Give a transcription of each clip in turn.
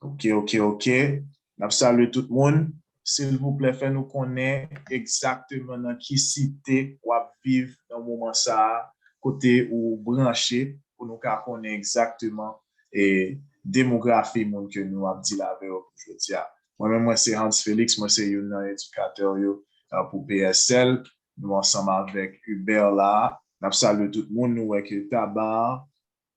Ok, ok, ok. N ap salye tout moun. Silvouplè fè nou konnen egzakteman nan ki site w ap viv nan moman sa a, kote ou branche pou nou ka konnen egzakteman demografi moun ke nou ap dil avè yo pou jodi a. Mwen menm mwen se Hans Felix, mwen se youn nan edikatè yo pou PSL. Nou ansanm avèk Hubert la. Nap salye tout moun nou wè ke Tabar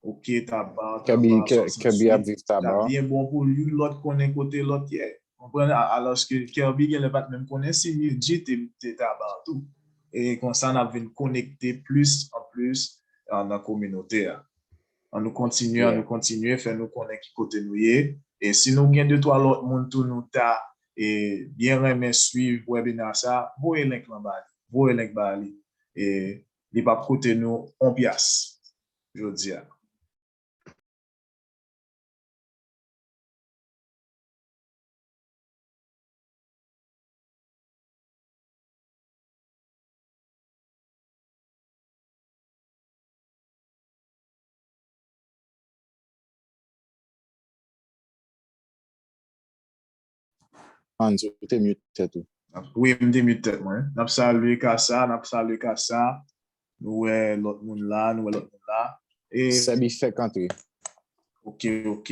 ok Tabar Tabar 68 tap byen bon pou youn lòt konnen kote lòt ye konprann alòske Kerby genlè pat menm konnen si Nildji te Tabar tou e konsa nap vin konekte plis an plis nan kominote a. An nou kontinye an nou kontinye fè nou konnen ki kote nou ye e si nou gen de twa lòt moun tou nou ta e byen renmen swiv webina sa voye link lan ba li voye link ba li e li pap koute nou on pyas jodia. Hans ou te mute tèt ou. Wi m te mute tèt mwen. Nap salye Cassa, nap salye Cassa. Nou wè lòt moun la, nou wè lòt moun la. Sebi fèk antre. Ok ok.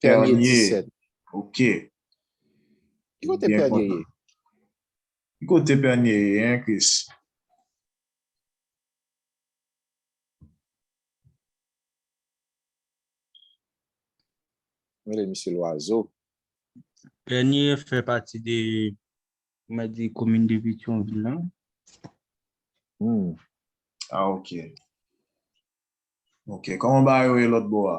Pernier 17. Ok. Ki kote Pernier ye? Ki kote Pernier ye hein Chris? Mele misye lwazo. Pernier fè pati de mwen di komin de Petyonvil la. Hum. Ah ok. Ok. Koman bagay yo ye lòt bò a?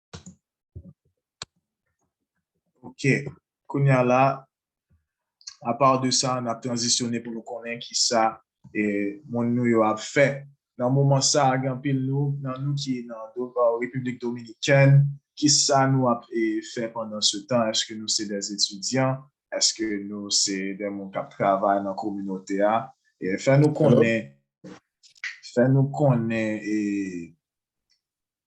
Ok, kounye a la, a pa de sa, n ap tranzisyone pou nou konnen ki sa moun nou yo ap fè. Nan moman sa, gen anpil nan nou ki nan Repiblik Dominikèn, ki sa nou ap fè pandan se tan? Eske nou se de etidyan? Eske nou se de moun k ap travay nan kominote a? Fè nou konnen, fè nou konnen e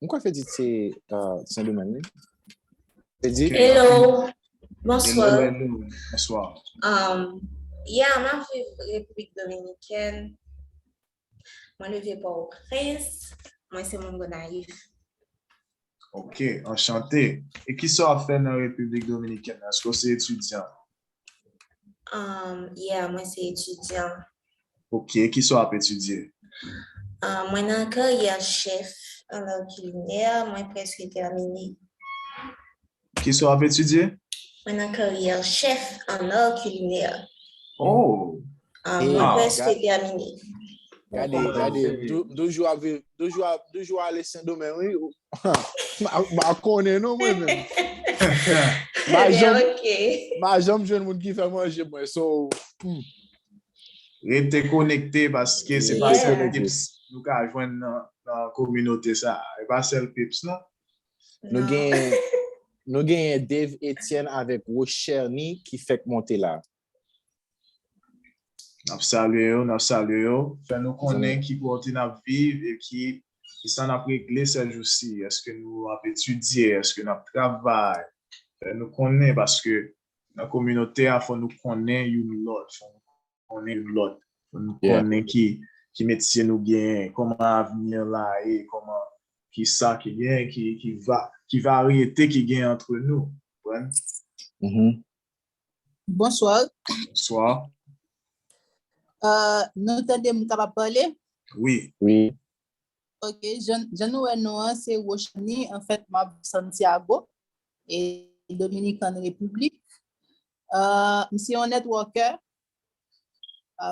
Mwen kwa Fedit se Sen Domeng li. Fedit? Hello! Bonswa! Bonswa! Ya, mwen ap viv Repiblik Dominikèn. Mwen leve pa ou prens. Mwen se moun Gonayiv. Ok, anchante. E kisa w ap fè nan Repiblik Dominikèn? Eske w se etidyan? Um, yeah, mwen se etidyan. Ok, ki sa w ap etidye? Um, mwen nan karyè chef an lò kilinè, mwen preske termine. Ki sa w ap etidye? Mwen nan karyè chef an lò kilinè. Oh, Ah, Hey, mwen preske gade, termine. Bon, gade, kòman yo gade, m seri. tou- m toujou ap viv, toujou ap, toujou ale Sendomeng, wi. ou- Ma, ma konnen non mwen menm. Ma Ebyen, janm, ok. ma janm jwenn moun ki fè manje mwen, so, hmm. Rete konekte paske se pa Rete sèl konekte. pips nou ka jwenn nan, nan kominote sa. a. E pa sèl pips non. Nou Non. genyen, nou genyen Dave Etienne avèk Rose Cherny ki fèk monte la. Nap salye yo, nap salye yo. Fè nou konnen ki kote nap viv e ki sa nap regle sè jou si. Eske nou ap etidye, eske nap travay. Fè nou konnen paske nan kominote a fò nou konnen youn lòt, fò nou konnen youn lòt. Fò nou konnen ki metye nou genyen, kòman avni an la ye, kòman ki sa ki genyen, ki varyete ki genyen antre nou. Ou konprann? Bonsoir. Bonsoir. Euh, nou tande m kapab pale? Oui. Oui. Ok, jan, jan nou wè nou an, se Rochani, an fèt m ap Santiago, e Dominican Republik. Euh, m se yon networker,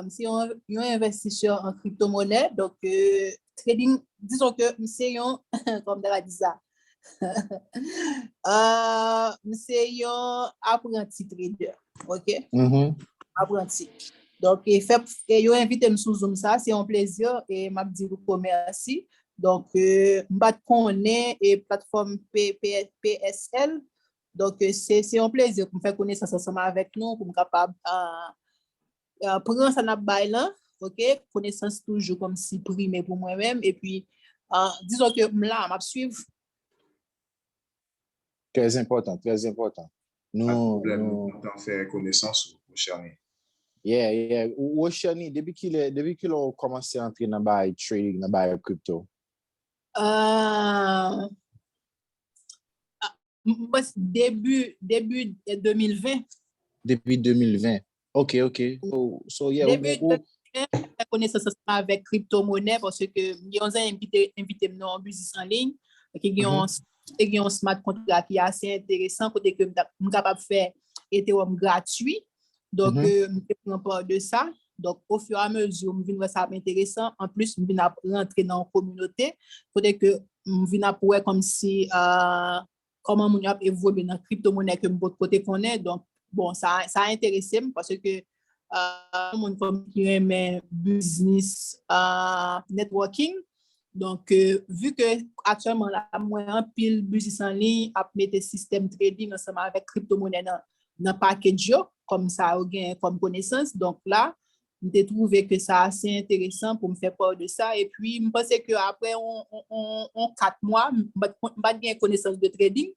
Se yon envestisè an kripto monè, donk trading, dison ke m se yon, kòm ta va di sa, m se yon apranti trader, ok, apranti. Donk e fèp, e yo envite m sou zoom sa, se yon plezi, e m ap di nou ko mèsi. Donk m pa t konnen e platfòm PSL, Donk se yon plezi pou m fè konesans ansanm avèk nou, pou m kapab pran sa n ap bay lan, ok, konesans toujou kòm si prime pou mwen menm, epi dizon ke m la, m ap swiv. Trèz enpòtan, trèz enpòtan. Pat pwoblèm, m kontan fè konesans ou, Rochany. Yeah, yeah. Rochany, depi ki lè ou kòmanse antre nan bagay trading, nan bagay crypto? Ahh. M panse debi 2020. Depi 2020. Ok, ok. So yeah, ou gen ou. Depi 2020, m fè konesans ansanm avèk kripto monè paske m gen yon zanmi m ki te envite m nan yon biznis an liy ki gen yon te gen yon smart contract ki ase enteresan kote ke m kapab fè Ethereum gratwi. Donk, m te pran pa de sa. Donk, o fiyo a mezi, m vin wè sa ap enteresan. An plis, m vin ap rantre nan yon kominote. Kote ke m vin ap wè kòm si, kòman moun yo ap evolye nan kripto monè ke m pot ko te konnen. Donk, bon, sa a enterese m. Pase ke, yon moun kòm ki renmen biznis networking. Donk, vu ke aktyèlman la, mwen anpil biznis anliy ap mete sistèm trading ansanm avèk kripto monè nan. nan package yo kòm sa yo gen kòm konesans donk la m te trouve ke sa ase enteresan pou m fè part de sa epi m panse ke aprè yon 4 mwa m pat gen konesans de trading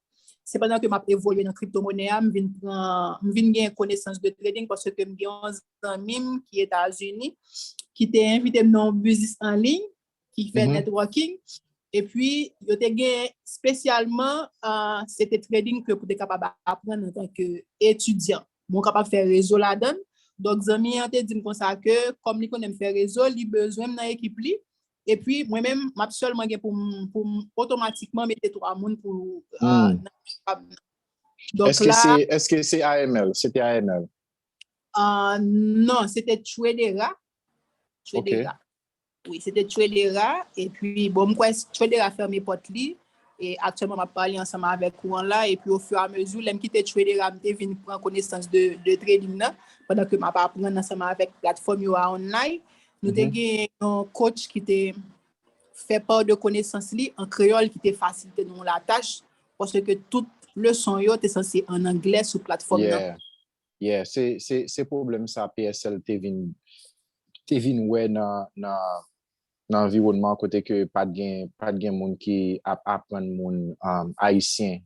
se pandan ke m ap evolye nan crypto monnaie a m vin pran m vin gen konesans de trading paske m gen yon zanmi m ki Etazini ki te envite m nan yon business en ligne ki fè networking, epi yo te gen spesyalman se te trading ke pou te kapab apren an tanke etudyan. Mwen w kapab fè rezo la dan, donk zanmi an te di m konsa ke kom li konnen m fè rezo, li bezwen m nan ekip li, epi mwen menm m ap selman gen pou m otomatikman mete 3 moun pou nan ekip la. Eske se AML? Se te AML? Non, se te Tradera. Wi se te Tchoedera epi bon m kwè Tchoedera fèmen pòt li e aktyèlman m ap pale ansanm avèk ou an la epi ofiramezi lè m kite Tchoedera m te vin pran konesans de trading nan pandan ke m ap aprann ansanm avèk platfòm yo a online nou te gen yon coach ki te fè part de konesans li an kreyòl ki te fasilite nou la tach paske tout leson yo te sanse an anglè sou platfòm nan. Yeah, se se se pwoblèm sa PSL te vin te vin wè nan nan nan anviwònman kote ke pat gen pat gen moun ki ap aprann moun ayisyen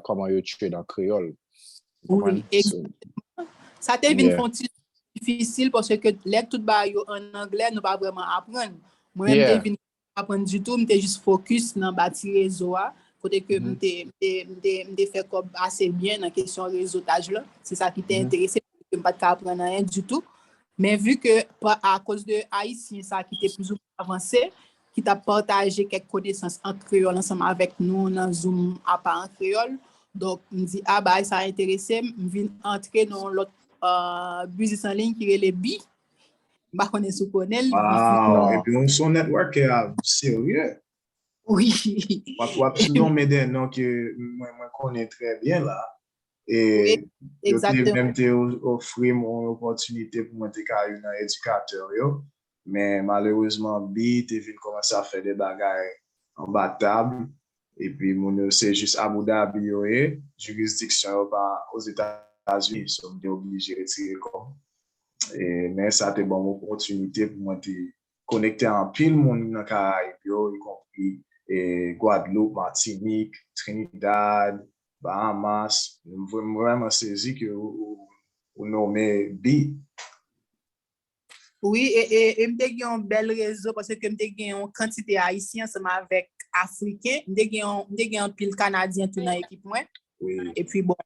kòman yo chwe nan kreyòl. Ou konprann? Wi, egzakteman. Sa te vin Yeah. fè yon ti difisil paske lè tout bagay yo an anglè nou pa vrèman aprann. Mwen menm te Yeah. vin pa aprann ditou, m te jis fokis nan bati rezo a, kote ke m te fè kòb ase byen nan kesyon rezotaj la, se sa ki te enterese m, m pa t ka aprann anyen ditou, men vi ke a koz de ayisyen sa ki te plis ou mwen avanse, ki t ap pataje kèk konesans an kreyòl ansanm avèk nou nan zoom apa an kreyòl, donk m di a bagay sa enterese m, m vin antre nan yon lòt biznis an liy ki rele bi. M pa konnen si w konnen li. Waw, epi ou son networkè a serye. Wi. Wap ti nonmen de non ke mwen mwen konnen trè byen la. E yo te menm te ofri m yon opòtinite pou mwen te ka youn nan edikatè yo. Men malerezman Bi te vin kòmanse ap fè de bagay anba tab. Epi moun yo se jis Abu Dhabi yo ye, jurisdiction yo pa Ozetazini, so m te oblije retire kò m. E men sa te ban m opòtinite pou mwen te konekte a anpil moun nan Karayib yo, y konpri Guadeloupe, Martinique, Trinidad, Bahamas. M vrèman sezi ke ou nome Bi. Wi, e m te gen yon bèl rezo pase ke m te gen yon kantite Ayisyen ansanm avèk Afriken. M te gen anpil Kanadyen tou nan ekip mwen. E pi bon,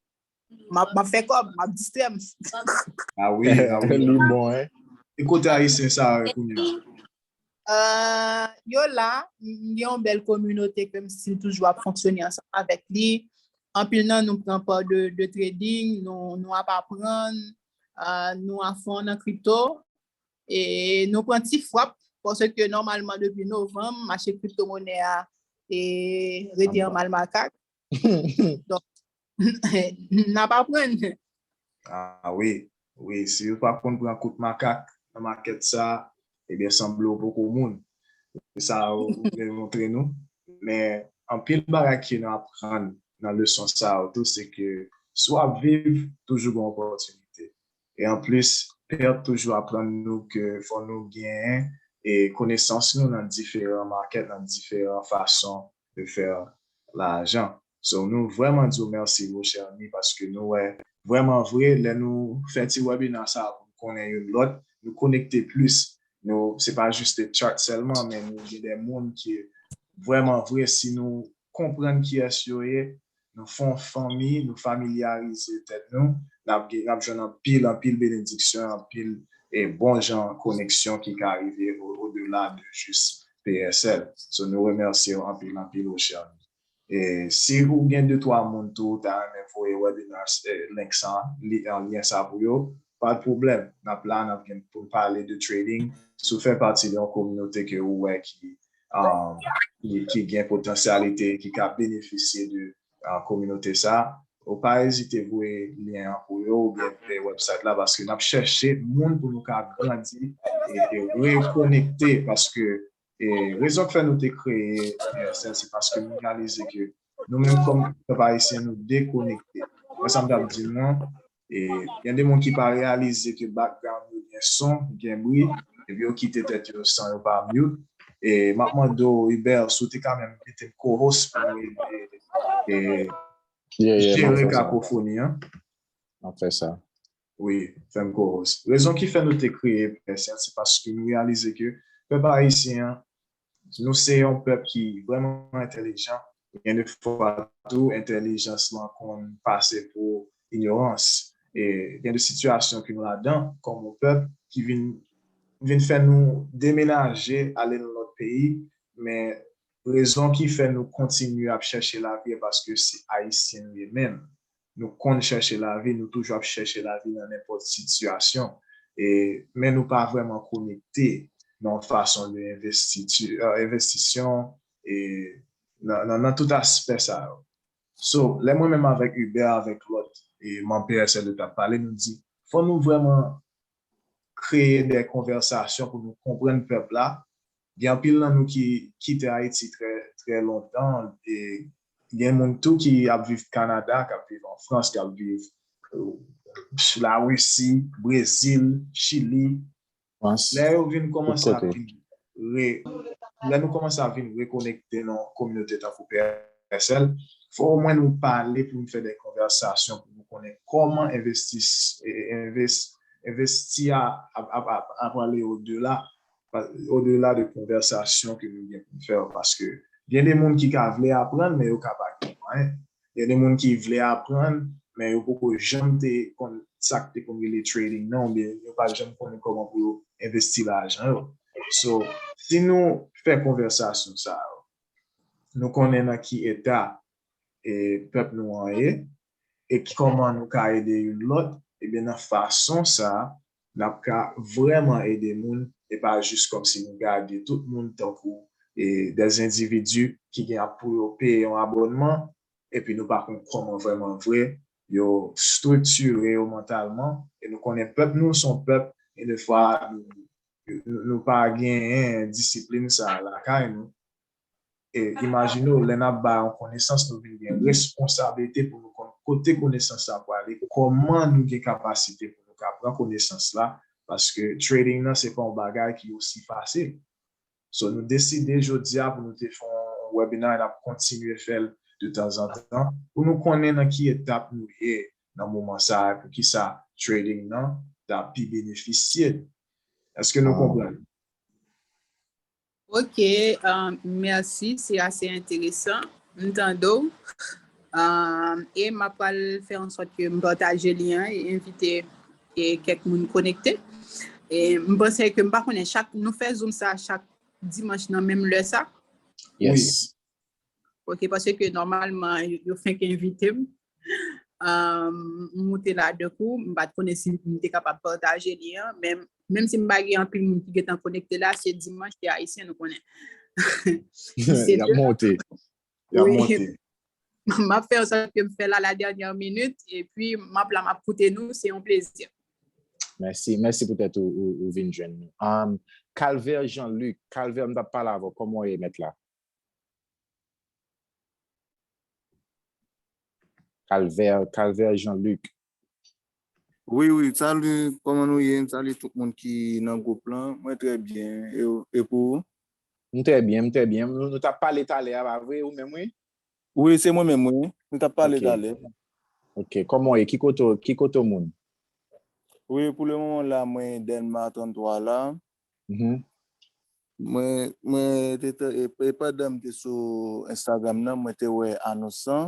m ap fè kòb, m ap distrè m. A wi, a wi. Li bon, hein. E kote Ayisyen sa yo kounya? Yo la, m gen yon bèl kominote ke m stil toujou ap fonksyone ansanm avèk li. Anpil nan nou pran pa de trading, nou ap aprann, Nou a fon nan crypto e nou pran ti fwap pwosè ke nòmalman depi novanm mache crypto monè a e rete an mal makak. Donk nan pa pran. A wi, wi si yo pa konn pran kout makak nan makèt sa. Ebyen sanble ou poko moun. Se sa ou vle montre nou. Men anpil bagay ke nou aprann nan leson sa yo tou se ke si w ap viv toujou gen opòtinite. E anplis Pert toujou aprann nou ke fò nou genyen konesans nou nan diferan makèt, nan diferan fason de faire lajan so nou vrèman di w mèsi woo chère ni paske nou wè vrèman vre lè nou fè ti wèbina sa pou n konnen youn lòt nou konekte plis nou se pa juste chat sèlman men nou gen de moun ke vrèman vre si nou konprann kiyès yo ye Nou fon fanmi, nou familyarize tèt nou, nap gen, nap jwenn anpil, anpil benediksyon, anpil e bon jan koneksyon ki ka rive o dela de jis PSL. So nou remèsyew anpil, anpil ou chè anmi. E si ou gen de twa moun tou ou ta renmen voye webinars e link sa, li an lyen sa pou yo, pat pwoblèm, nap la nap gen poun pale de trading, si ou fè pati de yon kominote ke ou wè ki ki gen potansyalite ki ka benefisye de kominote sa, ou pa ezite voye lyen an pou yo oubyen voye website la paske n ap chèche moun pou nou ka grandi e rekonekte paske rezon k fè nou te kreye Universel se paske nou reyalize ke nou menm kòm pèp ayisyen nou dekonekte. Wè sa m t ap di nou an? E gen de moun ki pa reyalize ke background yo gen son, gen bri, epi yo kite tèt yo san yo pa mute. E m ap mande w Hubert si w te ka menm mete m co-host pou nou ede jere kakofoni an. M ap fè sa. Wi, fè m co-host. Rezon ki fè nou te kreye Pè Sèl se paske nou reyalize ke pèp ayisyen an Nou se yon pèp ki vrèman entèlijan, gen de fwa tou entèlijans lan konn pase pou inyorans. Gen de sitiyasyon ke nou ladan kòm yon pèp ki vin fè nou demenaje ale nan lòt peyi, men rezon ki fè nou kontinye ap chèche lavi e paske se Ayisyen nou ye menm. Nou konn chèche lavi, nou toujou ap chèche lavi nan nenpòt sitiyasyon, e men nou pa vrèman konekte nan yon fason de envestiti, envestisyon e nan nan tout aspè sa yo. So, lè mwen menm avèk Hubert avèk lòt e manm PSL yo t ap pale, nou di fò nou vrèman kreye de konvèsasyon pou nou konprann pèp la Gen anpil nan nou ki kite Ayiti trè, trè lontan e gen moun tou ki ap viv Kanada, k ap viv an Frans, k ap viv Larisi, Brezil, Chili. Lè yo vin kòmanse ap vin re, lè nou kòmanse ap vin rekonekte nan yon kominote tankou PSL, fò omwen nou pale pou nou fè de konvèsasyon pou nou konnen kòman envestis, envesti a ap ale odela o dela de konvèsasyon ke nou gen pou n fè yo paske gen de moun ki ka vle aprann men yo ka pa gen mwayen gen de moun ki vle aprann men yo poko janm te konn sa k te konn rele trading nan oubyen yo pa janm konnen kòman pou yo envesti lajan yo so si nou fè konvèsasyon sa yo nou konnen nan ki eta pèp nou an ye e kòman nou ka ede youn lòt, ebyen nan fason sa a, n ap ka vrèman ede moun e pa jis kòmsi nou gade tout moun tankou de zendividi ki gen pou yo peye yon abònman epi nou pa konn kòman vrèman vre yo striktire yo mantalman e nou konnen pèp nou se yon pèp gen de fwa nou pa genyen disiplin sa a lakay nou. Imajine w lè n ap bay yon konesans nou vin gen responsablite pou nou konn kote konesans la prale, kòman nou gen kapasite pou nou ka pran konesans la paske trading nan se pa yon bagay ki osi fasil. So nou deside jodi a pou nou te fè yon webinar e n ap kontinye fè l de tanzantan pou nou konnen nan ki etap nou ye nan moman sa a, poukisa trading nan ta pi benefisye nou. Èske nou konprann? Ok, um, merci, c'est assez intéressant. M tande w. Um, e m ap pral fè an sòt ke m pataje li an e invite e kèk moun konekte. E m panse ke m pa konnen chak nou fè zoom sa chak dimanche nan menm lè sa. Yes. Ok, pase ke normalman yo fenk envitem, moute la de kou, m pat konnen si m te kapab pataje li an, menm si m pa gen anpil moun ki getan konekte la, se dimanch ki ayisyen nou konnen. Yap monte, yap monte. M ap fè yon sa ke m fè la la dènyè minit, e pi m ap la m ap koute nou, se yon plezi. Mèsi, mèsi pou tèt ou vin jwenn nou. Calvaire Jean Luc, Calvaire m tap pale avèw, kòman ou ye mèt la? Calvaire Calvaire Jean Luc. Wi wi salu koman nou ye m salu tout moun ki nan group lan mwen trè byen e pou ou. M trè byen m trè byen nou tap pale talè a pa vre ou menm wi. Wi se mwen menm wi nou tap pale talè. Ok koman ou ye ki kote ou moun. Wi pou le moman la mwen Dèlma 33 la. E pandan m te sou Instagram nan, mwen te wè anons sa,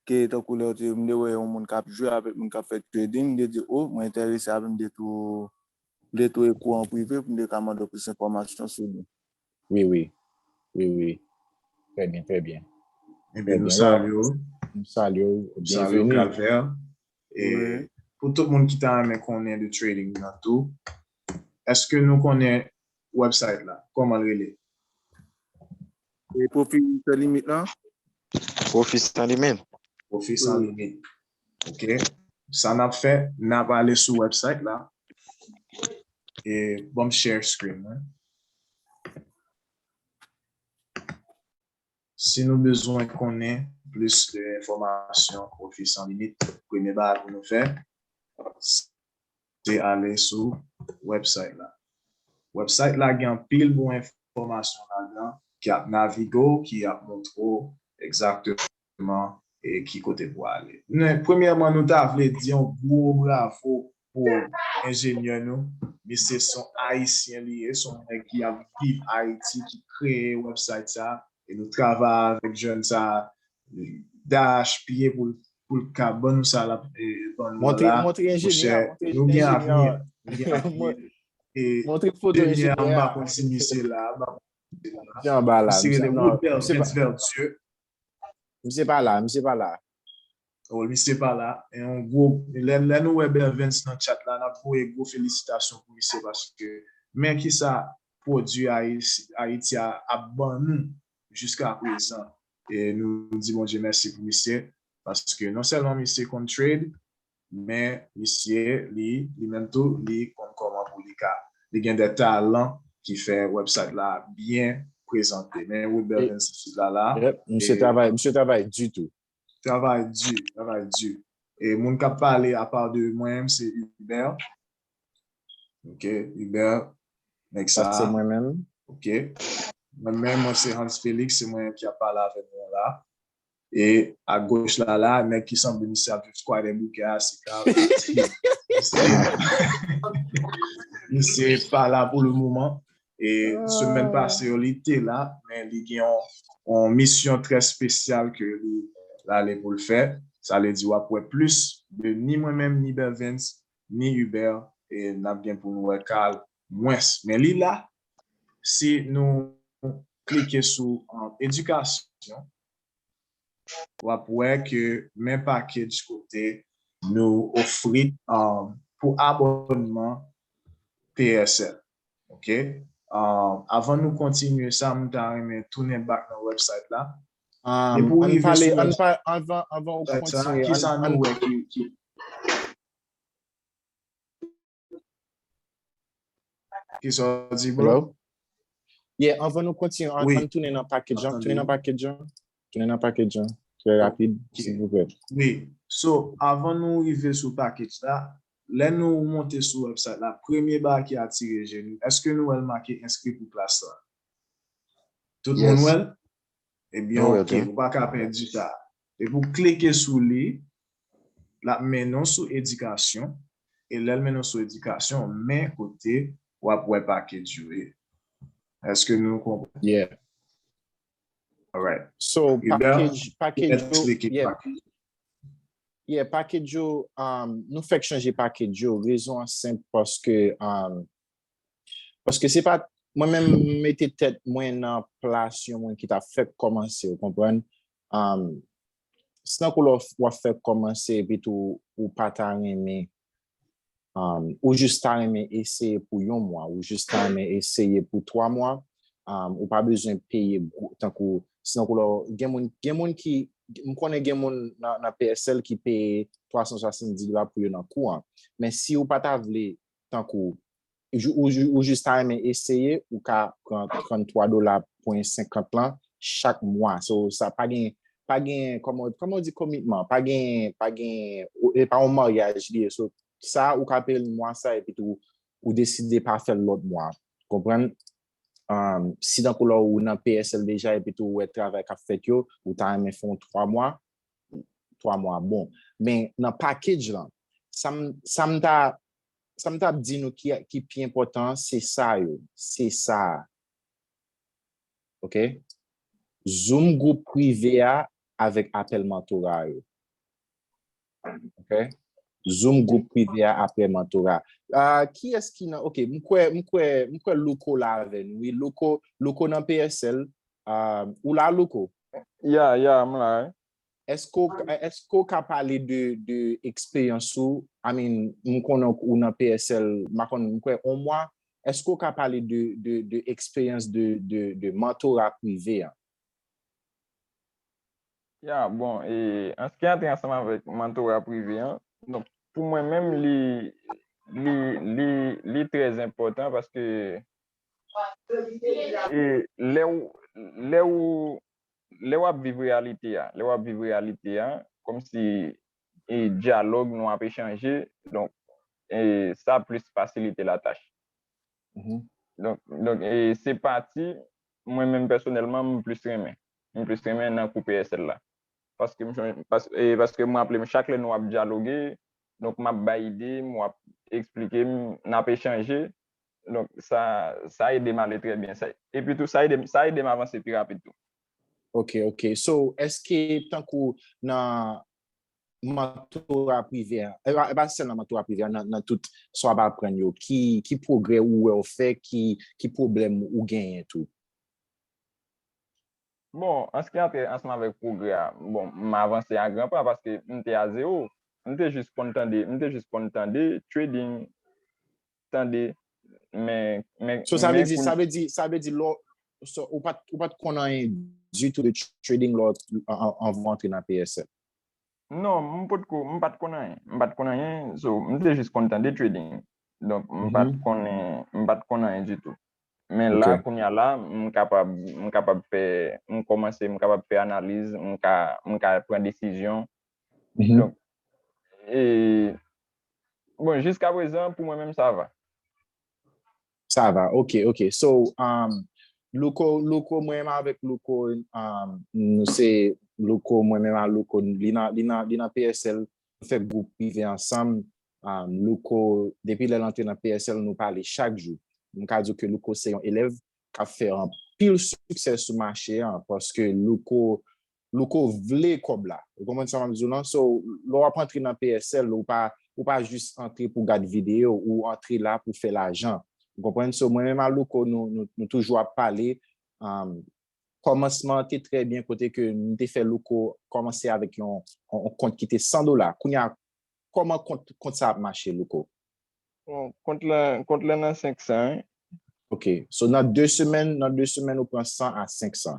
ke tankou lè yo te, m te wè yon moun kap jwe avèk moun kap fè trading, m te di o, mwen enterese avèk m de tou, m de tou ekri w an prive pou m te ka mande w plis enfòmasyon sou li. Wi wi, wi wi, trè byen, trè byen. Ebyen nou salye w. Nou salye w, byenveni. Salye w Calvaire. E pou tout moun ki ta renmen konnen de trading nan tou, Eske nou konnen website la? Koman l rele? E Profi San Limit lan? Profi San Limit? Profi San Limit. Ok. Sa n ap fè, n ap ale sou website la. E banm share screen mwen. Si nou bezwen konnen plis de enfòmasyon Pwofi San Limit, premye bagay pou nou fè, se ale sou website la. Website la gen anpil bon enfòmasyon ladan ki ap navige w, ki ap montre w egzakteman ki kote pou ale. Premyèman nou ta vle di yon gwo bravo pou enjenyè nou misye son ayisyen li ye son nèg ki ap viv ayiti ki kreye website sa e nou travay avèk jèn sa dach piye poul poul ka ban nou sa lap ban nou la mou chè nou gen avni nou gen avni e denyè an mba konn si misye la mba konn si misye la misye rele Robert Prince Vertueux Misye pa la, misye pa la. Wi misye pa la, e yon gwo, lè nou wè Bervens nan chat la nap voye gwo felisitasyon pou misye paske men kisa pwodwi Ayiti a ap ban nou jiska prezan e nou di Bondye mèsi pou misye paske non sèlman misye konn trade Men misye li li menm tou li konn koman pou li ka li gen de talan ki fè website la byen prezante men Ruth Belvin se fi la la. Yep misye travay misye travay di tou. Travay di travay di e moun kap pale apa de mwen menm se Hubert ok Hubert nèg sa se mwen menm ok mwen menm mwen se Hans Felix se mwen menm ki ap pale avèk nou la E a goch la la, nèg ki sanble misye ap viv Skwadè Boukè a se Karl Karski. Misye pa la pou le moman. E semèn pase yo li te la, men li gen yon misyon trè spesyal ke li ale pou l fè. Sa vle di w ap wè plis de ni mwen menm, ni Bervens, ni Hubert. E n ap gen pou nou wè Karl mwens. Men li la, si nou klike sou edikasyon, wap wè ke men package kote nou ofri pou abònman PSL ok avan nou kontinye sa m ta renmen tounen back nan website la depi w rive sou website sa kisa nou wè ki Kisa w di bro? Hello? Yeah, anvan nou kontinye, an, Oui. an tounen nan package an, Attendez. tounen nan package an, tounen nan package an, trè rapid, Ok. silvouplè. Oui. So, avan nou rive sou package la, lè nou monte sou website la, premye bagay ki atire je nou, èske nou wè l make enskri pou klas la? Tout moun Yes. wè l? Ebyen ok ou pa ka pèdi sa. Depi ou klike sou li, l ap mennen w sou edikasyon e lè l mennen w sou edikasyon men kote w ap wè package yo ye. Eske nou konprann? Yeah. Alright. So package yo, yeah package yo nou fèk chanje package yo rezon an senp paske Paske se pa mwen menm mete tèt mwen nan plas yon moun ki ta fèk kòmanse, ou konprann? Se tankou lè w ap fèk kòmanse epi tou ou pa ta renmen, ou jis ta renmen eseye pou yon mwa, ou jis ta renmen eseye pou twa mwa, ou pa bezwen peye gwo, tankou, se tankou lè w, gen moun, gen moun ki, m konnen gen moun nan PSL ki peye 370 dola pou yo nan kou an. Men si ou pa ta vle tankou ou jis ta renmen eseye ou ka pran 33 dola pwen 50 lan chak mwa so sa pa gen pa gen kòman ou di komitman pa gen pa gen e pa yon maryaj li ye so sa ou ka peye l mwa sa epi tou ou deside pa fè l lòt mwa konprann si tankou la ou nan PSL deja epi tou ou wè travay k ap fèt yo ou ta renmen fè yon 3 mwa 3 mwa bon men nan package lan sa m ta sa m ta ap di nou ki pi enpòtan se sa yo se sa a ok zoom gwoup prive a avèk apèl mentora yo ok zoom gwoup prive a apèl mentora kiyès ki nan ok m kwè m kwè m kwè louko la avè nou wi louko louko nan PSL ou la louko Ya ya m la wi. Eske ou ka pale de eksperyans ou, I mean m konnen ou nan PSL ma konn m kwè on mwa, eske ou ka pale de eksperyans de mentora prive an? Ya bon e an s ki antre ansanm avèk mentora prive an, donk pou mwen menm li li li li trèzenpòtan paske E lè ou, lè ou, lè w'ap viv reyalite a, lè w'ap viv reyalite a, kòmsi e dyalòg nou ap echanje, donk e sa plis fasilite latach. Donk, donk e se pati mwen menm pèsonèlman m plis renmen. M plis renmen nan kou PSL la. Paske m chon, pas, e paske m raple m chak lè nou ap dyaloge, donk m'ap bay ide m, ou ap esplike m, n'ap echanje, Donk sa ede m ale trè byen. Epi tou sa ede m avanse pi rapid tou. Ok, ok. So, eske tankou nan mantora prive a, e pa sèl nan mantora prive a, nan tout sa w ap aprann yo, ki pwogrè ou wè ou fè, ki pwoblèm ou genyen tou? Bon, an se ki ate ansanm avèk pwogrè a, bon, m avanse a gran pa paske m te a zewo. M te jis konn tande, m te jis konn tande trading. tande men men So sa vle di, sa vle di, sa vle di lè ou pat ou pat konn anyen ditou de trading lè anvan ou antre nan PSL? Non, m potko, m pat konn anyen, m pat konn anyen, so m te jis konn tande trading. Donk m pat konnen, m pat konn anyen ditou. Men la kounya la m kapab, m kapab fè, m kòmanse m kapab fè analiz, m ka, m ka pran desizyon Donk, e, bon, jiska prezan, pou mwen menm, sa va. Sa va, ok, ok. So, um, Louko, Louko, mwen menm avèk Louko, um, nou se Louko, mwen menm avèk Louko, li nan, li nan, li nan PSL, nou fè gwoup prive ansanm, um, Louko, depi lè l antre nan PSL, nou pale chak jou. Mwen ka di w ke Louko se yon elèv k ap fè anpil siksè sou mache an, paske Louko, Louko vle kòb la. Ou konprann sa map di w lan? So lè wap antre nan PSL ou pa ou pa jis antre pou gad video ou antre la pou fè lajan. Ou konprann? So mwen menm a Louko nou nou toujou ap pale umm kòmansman an te trè byen kote ke m te fè Louko kòmanse avèk yon yon kont ki te 100 dola. Kounye a kòman kont kont sa ap mache Louko? Bon kont la kont la nan 500 wi. Ok. So nan 2 semèn nan 2 semèn ou pran 100 a 500.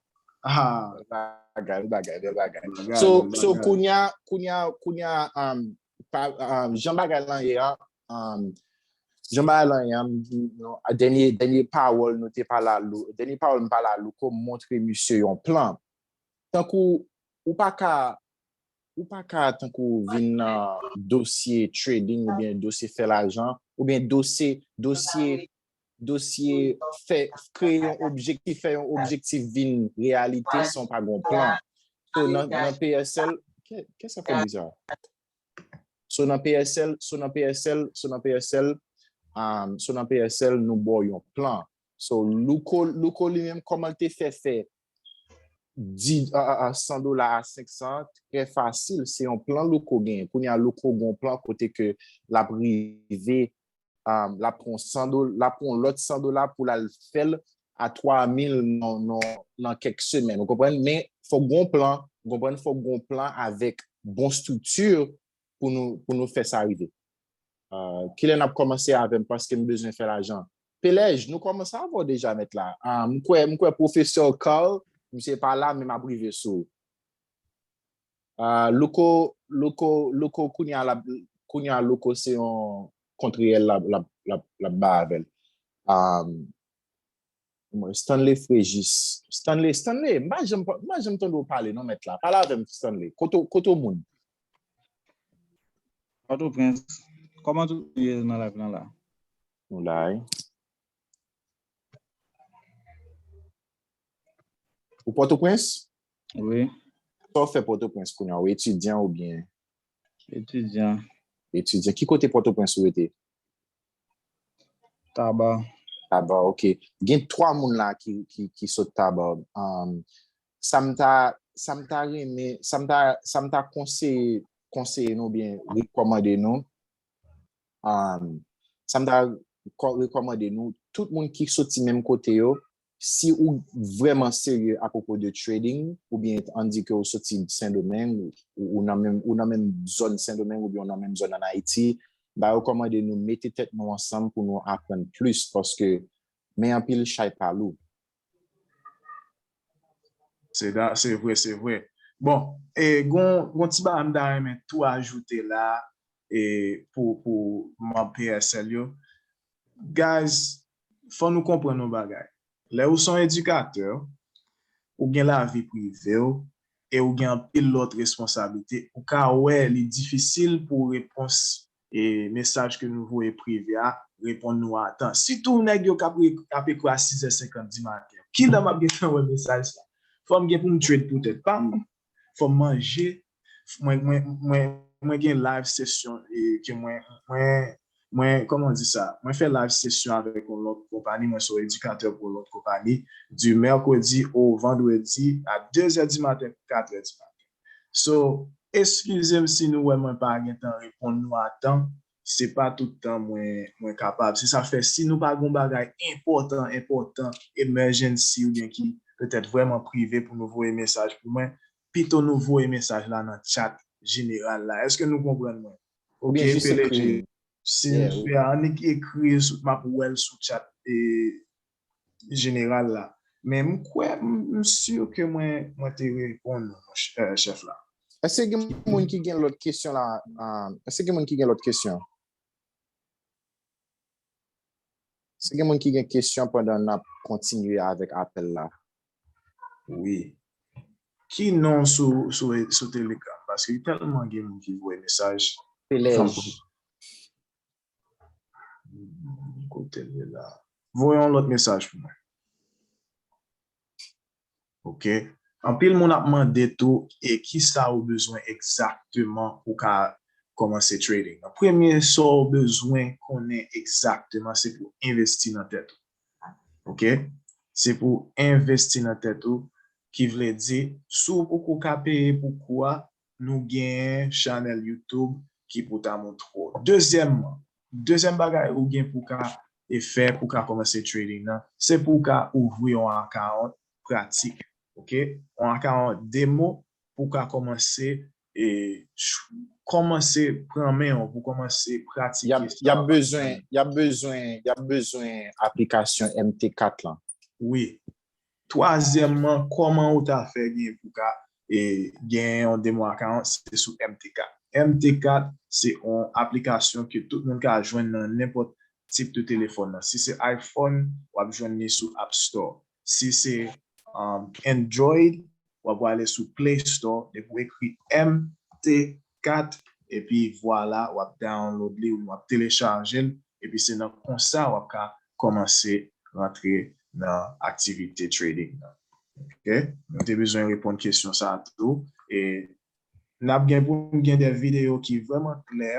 Bagay, bagay, bagay. So, kounya, kounya, kounya, jan bagay lan ye an, jan bagay lan ye an, dènye, dènye pawòl nou te pala, dènye pawòl nou pala louko montre misye yon plan. Tankou, ou pa ka, ou pa ka tankou vin nan dosye trading oubyen dosye fè lajan, oubyen dosye, dosye, dosye fè kreye yon objektif fè yon objektif vin reyalite san pa gon plan so nan PSL kè sa fè bizar so nan PSL so nan PSL so nan PSL so nan PSL nou bo yon plan so louko louko li menm koman te fè fè 100 dola a 500 an trè fasil, se yon plan Louko genyen. Kounye a Louko gen yon plan kote ke l ap rive, l ap pran 100 dola, l ap pran yon lòt 100 dola pou l al fè l a 3000 nan kèk semèn. Ou konprann? Men, fòk gen yon plan, ou konprann, fòk gen yon plan avèk bon estrikti pou nou pou nou fè sa rive. Ah, kilè nap kòmanse avèm paske m bezwen fè lajan. Pelej, nou kòmanse avèw deja mèt la. Ah, m kwè m kwè pwofesè Carl, misye pa la men map rive sou ou. Ah, Louko, Louko, Louko kounya lap kounya Louko se yon kont reyèl lap lap lap lap bay avèl. Ah, Mwen Stanley Frejis. Stanley, Stanley, m pa janm, m pa janm tande w pale non mèt la. Pale avè m Stanley. Kote w, kote w moun? Pòtoprens. Kòman tout moun ye nan live lan la? Nou la wi. Ou Pòtoprens? Wi. Sa w fè Pòtoprens kounye a? Ou etidyan oubyen? Etidyan. Etidyan. Ki kote Pòtoprens ou rete? Taba. Taba, ok. Gen 3 moun la ki sot taba. Sa m ta, sa m ta renmen, sa m ta, sa m ta konseye, konseye nou byen, rekòmande nou, sa m ta rekòmande nou, tout moun ki soti menm kote yo, Si ou vrèman serye ak opo de trading oubyen an di ke ou soti Sendomeng ou nan menm ou nan menm zòn Sendomeng oubyen ou nan menm zòn an Ayiti mta rekòmande nou mete tèt nou ansanm pou nou aprann plis paske men anpil chay pa lou. Se da se vre se vre. Bon e gon gon ti bagay m ta renmen tou ajoute la e pou pou manb PSL yo Guys fò nou konprann yon bagay lè ou son edikatè ou gen lavi privew e ou gen anpil lòt responsablite ou ka wè li difisil pou repons e mesaj ke nou voye prive a reponn nou a tan sitou nèg yo kap ap ekri a 6 è 50 di maten kilè map gentan wè mesaj sa fòm gen poum trade pou tèt pam fòm manje mwen gen live session ke mwen mwen koman ou di sa mwen fè live session avèk yon lòt konpani mwen se yon edikatè pou yon lòt konpani du mercredi au vendredi a 2 zè di maten pou 4 zè di maten so eskize m si nou wè mwen pa gen tan reponn nou a tan se pa tout tan mwen kapab se sa fè si nou pa gen yon bagay enpòtan enpòtan emergency oubyen ki petèt vrèman prive pou nou voye mesaj pou mwen Pito nou voye mesaj la nan chat jeneral la eske nou konprann mwen ok peleje si nou fè a annik ekri map wèl sou chat jeneral la men m kwè m si ke mwen mwen te reponn nou chèf la. Eske gen moun ki gen lòt kesyon la eske gen moun ki gen lòt kesyon. Si gen moun ki gen kesyon pandan nap kontinye avèk apèl la. Wi. Ki non sou telegram paske li tèlman gen moun ki voye mesaj. Pelèj. Kotel ye la. Voye yon lòt mesaj pou mwen. ok. Anpil moun ap mande tou e kisa ou bezwen egzakteman pou ka kòmanse trading nan premye sa ou bezwen konnen egzakteman se pou envesti nan tèt ou ok se pou envesti nan tèt ou ki vle di si ou poko ka peye pou kou a nou gen chanèl YouTube ki pou ta moutre w. Dezyèmman, dezyèm bagay ou gen pou ka fè pou ka kòmanse trading nan, se pou w ka ouvri yon account pratik, ok, yon account demo pou w ka kòmanse e kòmanse pran men w, pou w kòmanse pratike sa w ap aprann. Y ap bezwen aplikasyon MT4 lan. Wi. Twazyèmman, kòman ou ta fè gen pou ka gen yon demo account se sou MT4. MT4 se yon aplikasyon ke tout moun ka jwenn nan nenpòt tip de telefòn nan. Si se iPhone, w ap jwenn li sou App Store. Si se Android, w ap wale sou Play Store, depi w ekri MT4. 4 epi vwala wap download li oubyen wap telechaje l epi se nan konsa wap ka kòmanse rantre nan aktivite trading nan ok mwen te bezwen reponn kesyon sa tou e nap gen pou nou gen de videyo ki vrèman klè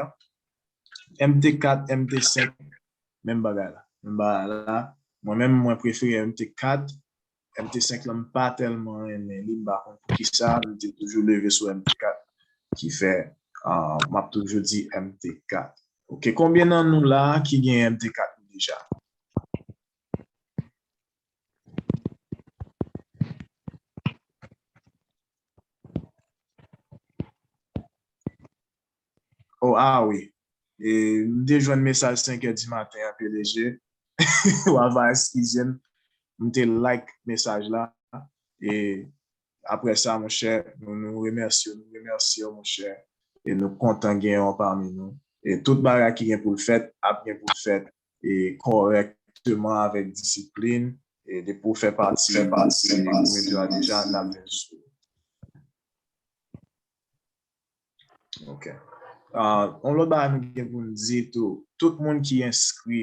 MT4 MT5 menm bagay la menm bagay la mwen menm mwen prefere MT4 MT5 lan m pa tèlman renmen li m pa konn poukisa m te toujou leve sou MT4 ki fè map toujou di MT4 ok konbyen nan nou la ki gen MT4 nou deja. Oh ah wi m te jwenn mesaj 5 è di maten an plg wa va eskizem m te like mesaj la e aprè sa monchè nou remèsye w nou remèsye w monchè e nou kontan genyen w pami nou e tout bagay ki gen pou l fèt ap gen pou l fèt e kòrèkteman avèk disiplin e depi w fè pati de kominote a deja n ap vin sou ou. Ok. On lòt ba nou gen pou nou di tou, tout moun ki enskri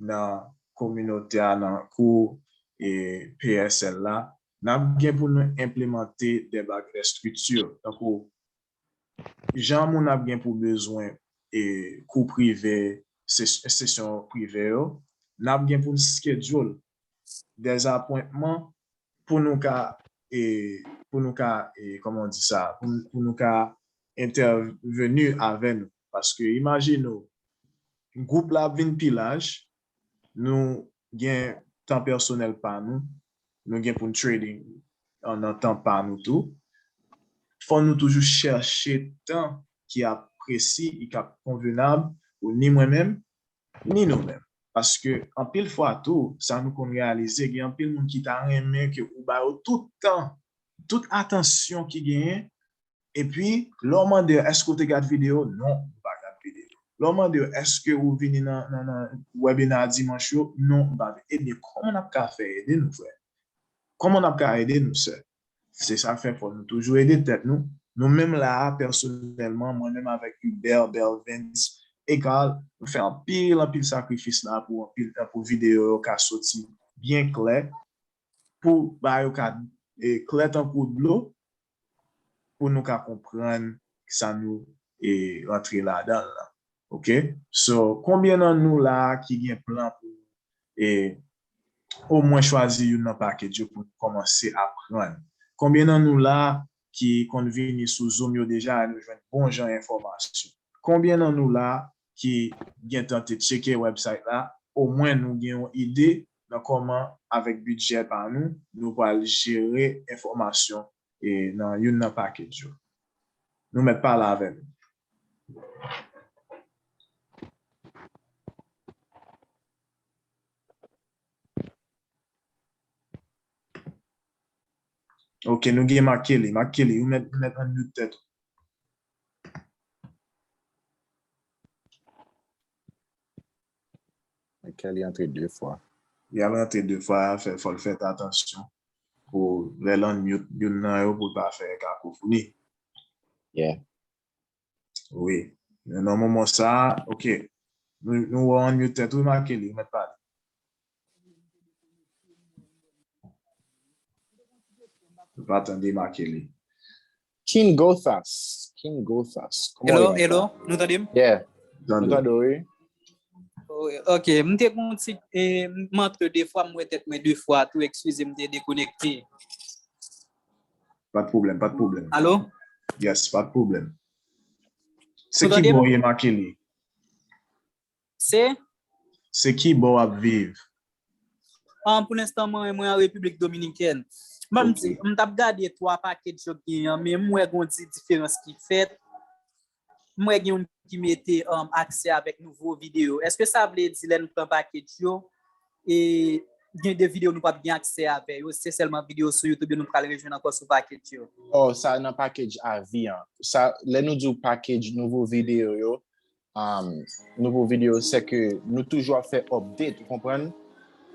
nan kominote a nan kou e PSL la, nap gen pou nou enplemante de bag estrikti, tankou jan moun ap gen pou bezwen e kou prive, sesyon prive yo, nap gen pou nou skedyol dezapwentman pou nou ka e pou nou ka e kòman di sa pou nou ka entèveni avè nou paske imajine w gwoup la ap vin pi laj nou gen tan pèsonèl pa nou nou gen pou n trading nan tan pa nou tou fò nou toujou chèche tan ki ap presi e k ap konvenab pou ni mwen menm Ni nou menm. Paske anpil fwa tou, sa nou konn reyalize, gen anpil moun ki ta renmen ke ou ba yo tout tan, tout atansyon ki genyen, epi lè w mande yo èske ou te gad videyo, non, m pa gad videyo. Lè w mande yo èske ou vini nan wèbina dimanch yo, non, m pa vini. Ebyen, kòman n ap ka fè ede nou frè? Kòman n ap ka ede nou sè? Se sa k fè fò nou toujou ede tèt nou. Nou menm la a, pèsonèlman, mwen menm avèk Hubert, Belvens e Carl, nou fè anpil anpil sakrifis la a pou anpil tan pou videyo yo ka soti byen klè, pou bagay yo ka klè tankou dlo, pou nou ka konprann sa nou rantre ladan l lan. Ok? So, konbyen nan nou la a ki gen plan pou omwen chwazi youn nan package yo pou nou kòmanse aprann. Konbyen nan nou la ki konn vini sou zoom yo deja e nou jwenn bon jan enfòmasyon? Konbyen nan nou la ki gentan te tcheke website la omwen nou gen yon ide nan kòman avèk bidjè pa nou nou pral jere enfòmasyon nan youn nan package yo? Nou mèt pale avè nou. Ok nou gen Marc-Kelly. Marc-Kelly ou mèt unmute tèt ou. Marc-Kelly antre 2 fwa. Li ap rantre 2 fwa, fò l fèt atansyon pou lè l unmute youn nan yo pou l pa fè kakofoni. Yeah. Wi, men nan moman sa, ok, nou wè w an mute tèt wi Marc-Kelly, ou mèt pale. Nou pa tande Marc-Kelly. King Gothas, King Gothas. Hello, hello, nou tande m? Yeah, nou tande w wi. Ok, m te kon ti, m antre 2 fwa, m wè tèt mwen 2 fwa tou, ekskize m te dekonekte. Pat problem, pat problem. Alo? Yes, pat problem. Se ki bon ye makele? Se? Se ki bon ap viv? An, pou l'instant mwen, mwen an Republik Dominikèn. Mwen mwen tap gade 3 paket jok gen yon, men mwen gondi diferans ki fèt. M wè gen youn ki mete aksè avèk nouvo videyo. Eske sa vle di lè nou pran package yo e gen de videyo nou pap gen aksè avè yo, se sèlman videyo sou YouTube yo nou pral rejwenn ankò sou package yo? Oh, sa nan package avi an. Sa, lè nou di w package nouvo videyo yo, umm, nouvo videyo se ke nou toujou ap fè update, ou konprann?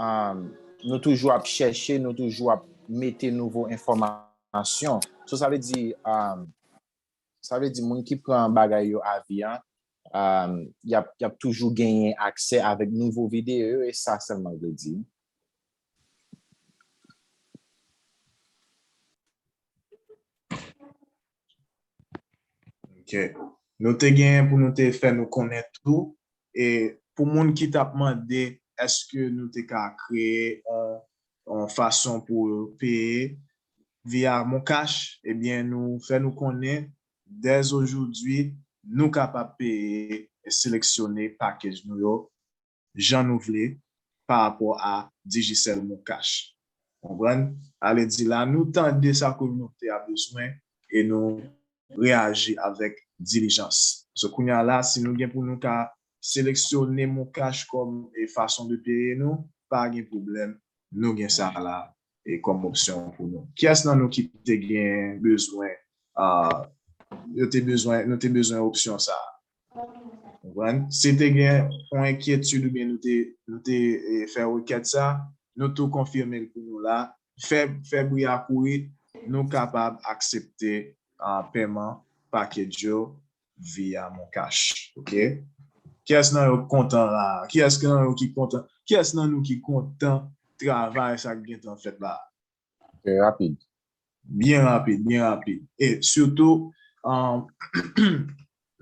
Umm, nou toujou ap chèche, nou toujou ap mete nouvo enfòmasyon. So sa vle di, umm, Sa vle di moun ki pran bagay yo avi an yap toujou genyen aksè avèk nouvo videyo yo e sa sèlman l vle di. Ok. Nou te genyen pou nou te fè nou konnen tou e pou moun ki tap mande eske nou te ka kreye yon yon fason pou peye via moncash ebyen nou fè nou konnen dèzojoudwi nou kapab peye e seleksyone package nou yo jan nou vle pa rapò a Digicel moncash konprann sa vle di la nou tande sa kominote a bezwen e nou reyaji avèk dilijans so kounya la si nou gen pou nou ka seleksyone moncash kòm fason de peye nou pa gen pwoblèm nou gen sa la kòm opsyon pou nou. Kiyès nan nou ki te gen bezwen yo te bezwen nou te bezwen opsyon sa a? Konprann? Si te gen yon enkyetid oubyen nou te nou te fè rekèt sa nou tou konfime l pou nou la fè fè bri a kouri nou kapab aksepte pèman package yo Via mon cash ok kiyès nan yo k kontan la kiyès nan yo ki kontan kiyès nan nou ki kontan travay sa k gentan fèt la trè rapid byen rapid byen rapid e sitou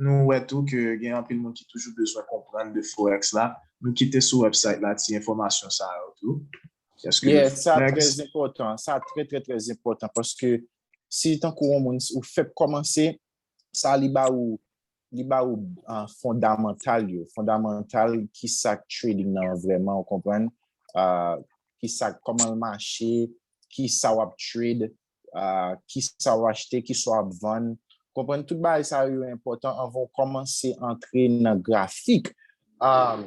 nou wè tou ke gen anpil moun ki toujou bezwen konprann de forex la nou kite sou wèbsayt la ti enfòmasyon sa yo tou paske forex sa trè enpòtan sa trè trè trè enpòtan paske si tankou yon moun ou fèk kòmanse sa li ba ou li ba ou fondamantal yo fondamantal ki sa trading nan an vrèman ou konprann ki sa kòman l mache ki sa w ap trade ki sa w achte ki sa w ap vann konprann tout bagay sa yo enpòtan anvan ou kòmanse antre nan grafik an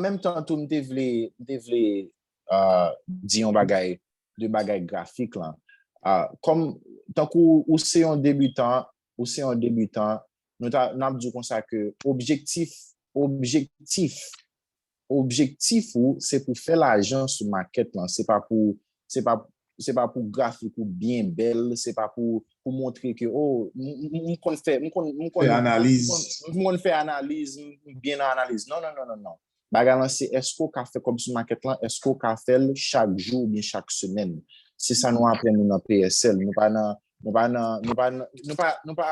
menm tan tou m te vle m te vle di yon bagay de bagay grafik lan. Kòm, tankou ou se yon debitan, ou se yon debitan, nou ta, n ap di w konsa ke objektif, objektif, objektif ou se pou fè lajan sou makèt lan, se pa pou, se pa, se pa pou grafik ou byen bèl, se pa pou pou montre ke o, m konn fè, m konn, m konn, m konn fè analiz, m konn fè analiz, m byen nan analiz. Non, non, non, non, non. Bagay lan se eske w ka fè kòb sou makèt lan, eske w ka fè l chak jou oubyen chak semèn. Se sa nou aprann nou nan PSL. Nou pa nan, nou pa nan, nou pa nan, nou pa, nou pa,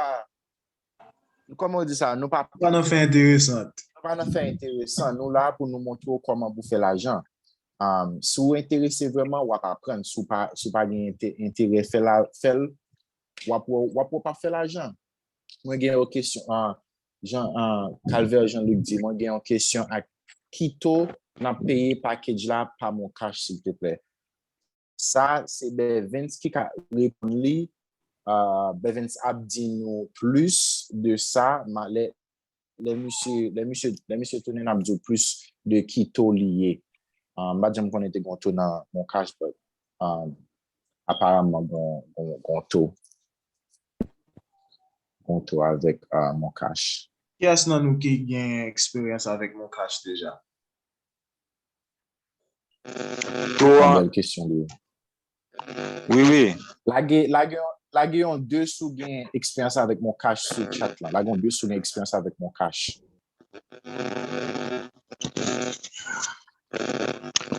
kòman yo di sa, nou pa. Nou pa nan fè enteresant. Nou pa nan fè enteresan. Nou la pou nou montre w kòman pou fè lajan. Si w enterese vrèman, w ap aprann. Si w pa, si w pa gen enterè fè la, fè l, w ap wè w, w ap wè w pa fè lajan. Mwen gen yon kesyon, Jean Calvaire Jean Luc di mwen gen yon kesyon ak ki to nap peye package la pa moncash silteplè? Sa se Bevens ki ka reponn li, Bevens ap di nou plis de sa lè misye tounen nap di w plis de ki to li ye. M pat janm konnen te gon to nan moncash but aparamman gon to. Kontou avèk moncash. Kiyès nan nou ki gen eksperyans avèk moncash deja? Tou an. Bèl kesyon li ye. Wi wi. Lage lage lage yon 2 si w gen eksperyans avèk moncash sou chat lan. Lage yon 2 si w gen eksperyans avèk moncash.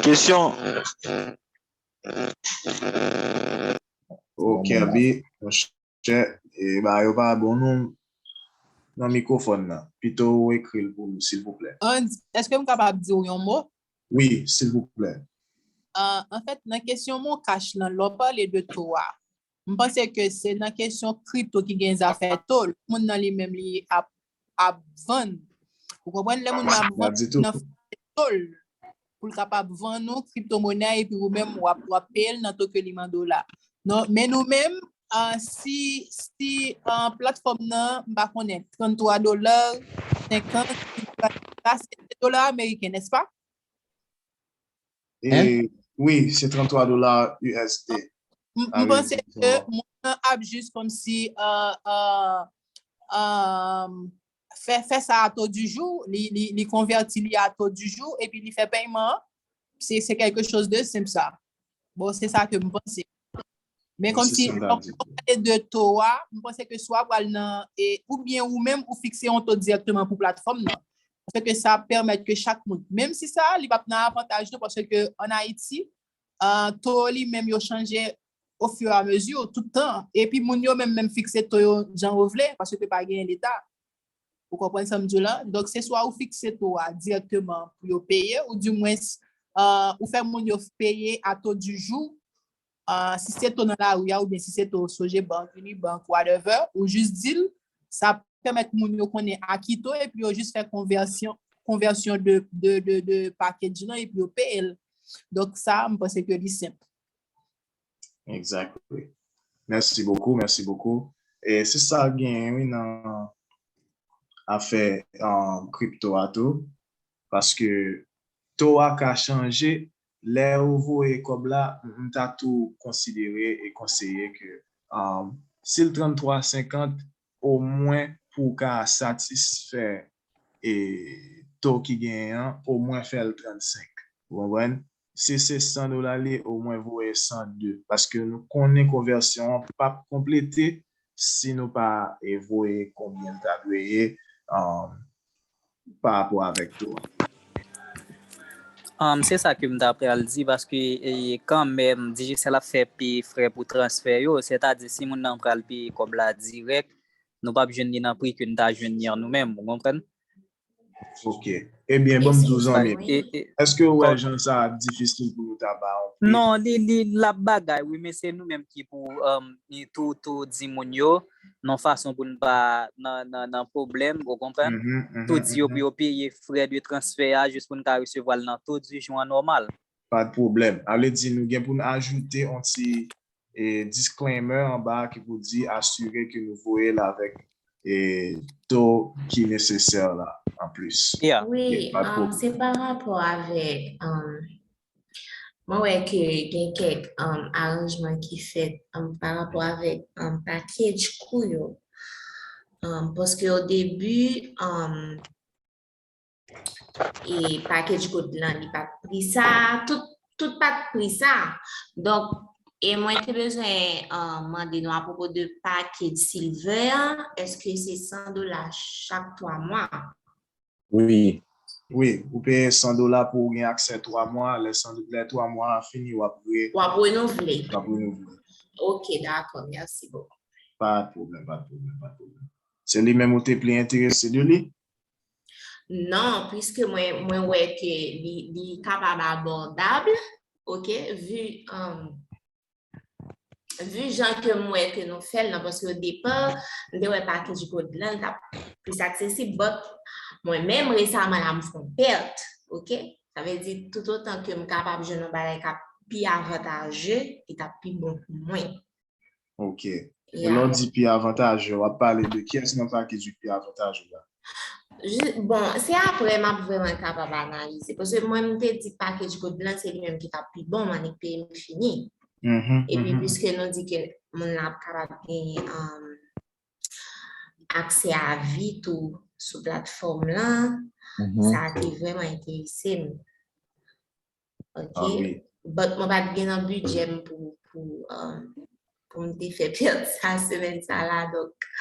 Kesyon. Ou kenbe mon chè e ba yo pa bon non nan mikrofòn nan pito ou ekri l pou nou silvouplè. Andy, èske m kapab di w yon mo? Wi, silvouplè. Anfèt, nan kesyon moncash lan, lè w pale de to a, M panse ke se nan kesyon crypto ki gen zafè tol, moun nan li menm li ap ap vann ou konprann lè moun nan ap vann nan fè tol pou l kapab vann ou crypto monè epi ou menm wap wap peye l nan to ke li m an dola non men nou menm si si platfòm nan m pa konnen 33 dola 50 dola ameriken nèspa? Hein? E, wi, se 33 dola USD. M m panse ke moun nan ap jis komsi uh, uh, um, fè, fè sa a to du jou, li, li, li konvèti li a to du jou, epi li fè pèyman an. Se, se kèlke choz de senp sa. Bon, se sa ke m panse. Men kòm si, lò pou nou pale de to a, m panse ke swa pral nan, ou byen ou menm ou fikse yon to direktman pou platfòm nan. Paske ke sa pèmèt ke chak moun, menm si sa, li pap nan avantaj nou, paske ke an Ayiti, to li menm yo chanje o fur et à mesure, tout tan. Epi moun yo menm menm fikse to yo jan yo vle, paske ke pa gen leta. Ou konprann sa m di w la? Donk se swa ou fikse to a dirèkteman pou yo peye ou di mwens ou fè moun yo peye a to di jou, si se to nan lari a oubyen si se to Sogebank, Unibank, whatever, ou jis di l, sa pèmèt moun yo konnen a ki to epi yo jis fè konvèsyon, konvèsyon de package lan epi yo peye l. Donk sa a m panse ke li senp. Exactly. Merci beaucoup, merci beaucoup. E se sa gen wi nan afè um, crypto a tou. Paske to a ka chanje lè ou voye kòb la, m ta tou konsidere e konseye ke um, si l 33.50 O mwen pou w ka satisfè e to ki genyen an, o mwen fè l 35. Ou konprann? Si se 100 dola li ye, o mwen voye 102. Paske nou konnen konvèsyon an p ap konplete si nou pa voye konbyen l ta dwe ye pa rapò avèk yo a. Se sa ke m ta pral di paske kanmenm Digicel ap fè peye frè pou transfè yo, sètadi si moun nan pral peye kòb la dirèk, nou pap jwenn li nan pri ke n ta jwenn li an nou menm, ou konprann? Ok. Ebyen ban m di w zanmi m, èske ou wè jan sa ap difisil pou yo ta ba ou pri? Non, li, li, l ap bagay wi men se nou menm ki pou tou, tou di moun yo, nan fason pou n pa nan pwoblèm, ou konprann? Tou di yo pou yo peye frè de transfè a jis pou n ka resevwa l nan to di jou an nòmal. Pa pwoblèm. A vle di nou gen pou n ajoute yon ti disclaimer anba a ki pou di asire ke nou voye l avèk to ki nesesè la anplis. Ya. Wi, se pa rapò avèk Mwen wè ke gen kèk aranjman ki fèt pa rapò avèk pakej kou yo. Paske o debi, e pakej kou lan li pat pri sa, tout pat pri sa. Donk, e mwen te bezwen mande nou apwopo de pakej silvè an, eske se 100 dola chak 3 mwa? Wi. Wi, ou peye 100 dola pou ou gen aksè 3 mwa, lè 100 lè 3 mwa a fini wap re. Wap renouvle. Wap renouvle. Ok dakò merci beaucoup. Pa pwoblèm pa pwoblèm pa pwoblèm. Se li menm ou te pli enterese de li? Non, puiske mwen mwen wè ke li li kapab abòdab, ok, vu Vu jan ke m wè ke nou fèl nan, paske o depa, m te wè package gold lan tap plis aksesib, but mwen menm resaman la m fon pèt, ok, sa vle di tout otan ke m kapab jwenn yon bagay kap pi avantaje, li tap pi bon pou mwen. Ok. E lè w di pi avantaje, wap pale de kyès nan package ki pi avantaje la? Bon, se apre m ap vreman kapab analize. Pwese mwen m te di package gold lan se li menm ki tap pi bon manik peyi m fini. E pi pwese nou di ke moun la ap kapab genye akse a vi tou sou platform lan, sa te vreman enterise m. Ok, but mwen pat gen nan bidjè m pou m te fè pèd sa semèn sa la, donk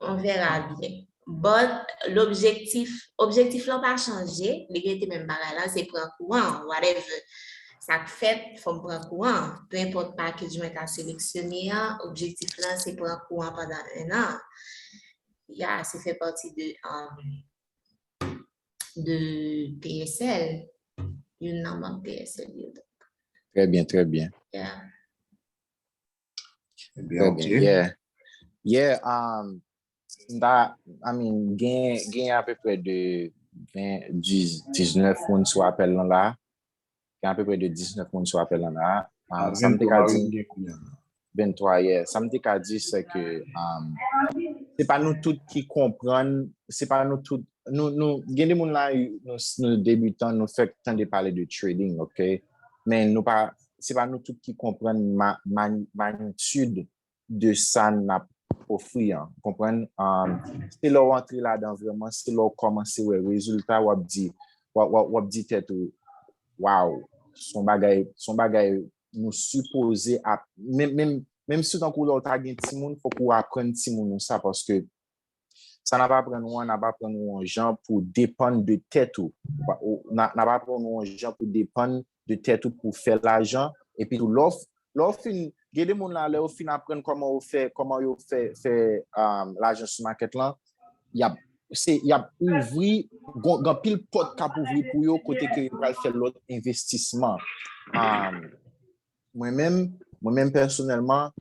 on verra byen. But, l'objectif, objektif lan pa chanje, li rete menm bagay la, se pran kou an, whatever sa k fèt, fò m pran kou an. Pe enpòt package mwen ta seleksyone an, objektif lan se pran kou an pandan 1 an. Ya, se fè pati de de PSL, youn nan manm PSL yo. Trè byen, trè byen. Yeah. Trè byen, ok. Yeah. Yeah, um, da, I mean, gen, gen apeprè de 20, 19 moun sou apèl lan la. Gen apeprè de 19 moun sou apèl an la. Sa m te ka di... 23, yè. Sa m te ka di, se ke... Se pa nou tout ki konprann, se pa nou tout... Gen de moun la, nou debitan, nou fèk tande pale de trading, ok? Men nou pa... Se pa nou tout ki konprann magnitude de sa n ap ofri an, konprann? Se lè w antre ladan vrèman, se lè w kòmanse wè rezilta w ap di, w ap di tèt ou, waw, s on bagay, s on bagay nou sipoze ap, menm, menm, menm si tankou lè w ta gen timoun, fòk ou aprann timoun ou sa paske Sa n ap aprann ou an, n ap aprann ou yon jan pou w depann de tèt ou. N ap aprann ou yon jan pou w depann de tèt ou pou w fè lajan. Epi tou, lè w fin, gen de moun la, lè yo fin aprann kòman yo fè, kòman yo fè, fè lajan sou makèt lan, y ap, se, y ap ouvri, gen anpil pòt k ap ouvri pou yo kote ke yo pral fè lòt envestisman. Mwen menm, mwen menm pèsonèlman,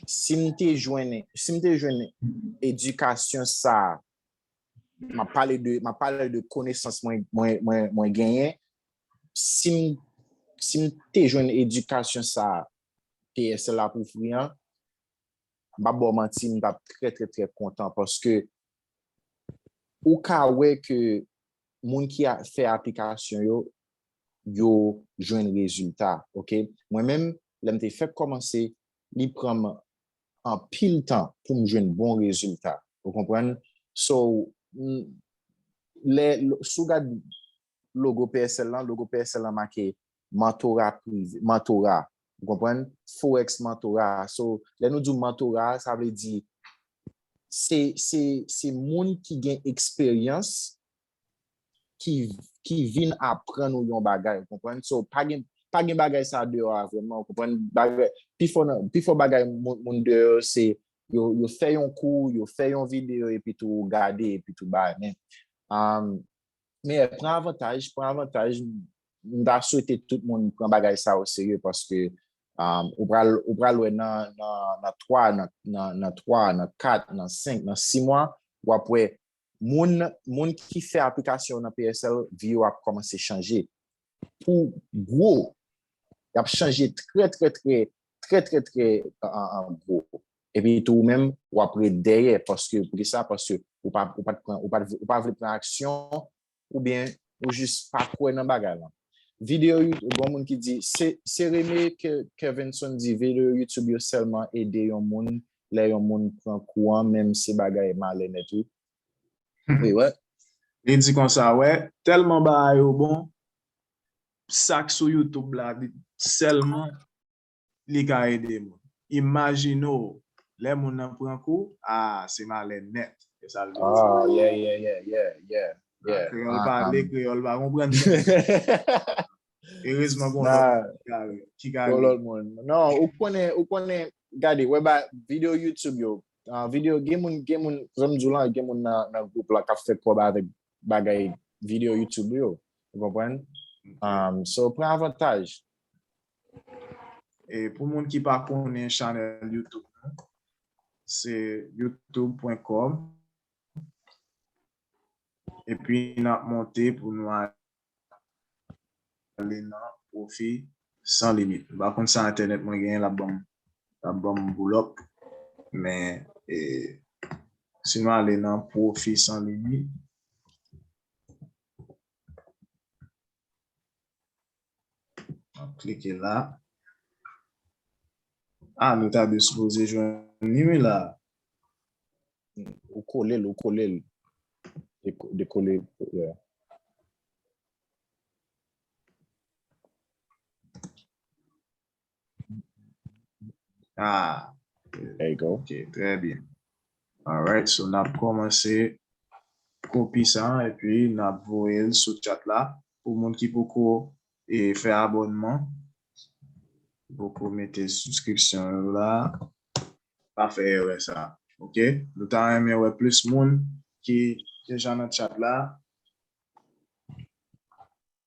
Si m te jwenn, si m te jwenn edikasyon sa, m ap pale de, m ap pale de konesans mwen, mwen, mwen, mwen genyen, si m, si m te jwenn edikasyon sa PSL ap ofri an, m pap ba w manti, m t ap trè, trè, trè kontan paske ou ka wè ke moun ki a, fè aplikasyon yo, yo jwenn rezilta, ok. Mwen menm, lèm te fèk kòmanse li pranm anpil tan poum jwenn bon rezilta ou konprann so lè sou gad logo PSL lan logo PSL lan make mantora prive mantora ou konprann forex mantora so lè nou di mantora sa vle di se se se moun ki gen eksperyans ki vin aprann ou yon bagay, ou konprann? So, pa gen, pa gen bagay sa deyò a vrèman, ou konprann? Bagay, pi fò nan, pi fò bagay moun deyò se, yo, yo fè yon kou, yo fè yon videyo epi tou ou gade epi tou bay, men, meyè pran avantaj, pran avantaj, m ta swete tout moun pran bagay sa o serye paske ou pral, ou pral wè nan, nan, nan 3, nan, nan 3, nan 4, nan 5, nan 6 mwa, w ap wè Moun moun ki fè aplikasyon nan PSL vi yo ap kòmanse chanje pou gwo y ap chanje trè trè trè trè trè trè gwo epi tou ou menm w ap ret dèyè paske poukisa paske ou pa ou pa t pran ou pa vle pran aksyon ou byen ou jis pa kwè nan bagay lan. Video YouTube, gon moun ki di, se reme ke Kevinson di video YouTube yo sèlman ede yon moun lè yon moun pran kou an menm se bagay malè nèt wi. Wi wè. Li di konsa wè, tèlman bagay yo bon, sak sou YouTube la sèlman. Li ka ede moun. Imajine w lè moun nan pran kou, aa se malè nèt. Se sa l vle di. Aa ye ye ye ye ye ye. Kreyòl pale, kreyòl pa konprann menm. Erezman gon lòt moun ki ka ri. Gon lòt moun. Non, ou konnen, ou konnen, gade, wè ba videyo YouTube yo, videyo gen moun, gen moun, jan m di w lan, gen moun nan gwoup lan k ap fè kòb avèk bagay videyo YouTube yo. Ou konprann? So, pran avantaj. E pou moun ki pa konnen chanèl YouTube nou, se youtube.com epi nap monte pou nou ale nan pwofi san limit. M pa konn sa entènèt mwen genyen lap banm lap banm boulòp men e si nou ale nan pwofi san limit Map klike la. Ah nou ta dwe sipoze jwenn li wi la. Ou kole l, ou kole l. De kole l. Ah, there you go. Ok, très bien. Alright, so nap komanse kopi sa an epi nap voye l sou chat la pou moun ki poko e fè abonman, ki poko mete subscription yo la, pa fè erè sa. Ok, nou ta renmen wè plis moun ki deja nan chat la.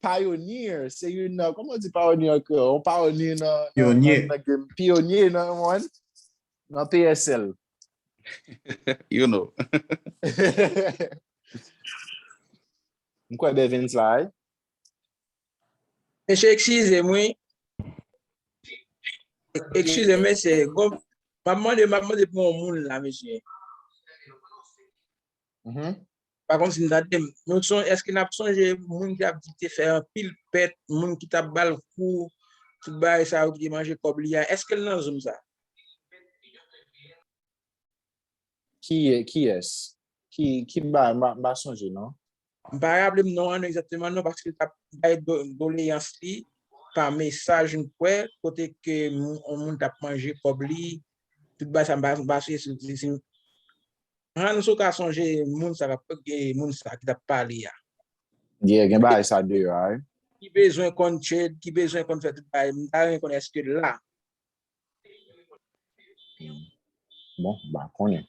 Pioneer, se yon nan, kouman di pioneer an kreyòl? Yon pioneer nan... Pioneer. Pioneer nan yon, nan PSL. You know. M kwè Bevens la wi. Mesye ekskize m wi. Ekskize m mesye. Bon, m ap mande, m ap mande pou yon moun la mesye. Pa konn si n tande m. Nou son, èske n ap sonje moun ki ap di l te fè anpil pèt, moun ki t ap ba l kou, tout bagay sa yo ki te manje kòb li a? Èske l nan zoom sa? Kiyès? Ki ba? M pa sonje non. M pa raple m non an egzakteman non paske l t ap bay doleyans li pa mesaj m kwè kote ke yon moun t ap manje kòb li, tout bagay sa m pa sonje si l te. Hans ou ka sonje moun sa kap e moun sa ki tap pale ya. Yeah gen bagay sa deyò a wi. Ki bezwen konn trade, ki bezwen konn fè tout bagay, m ta renmen konnen eske l la. Bon, m pa konnen.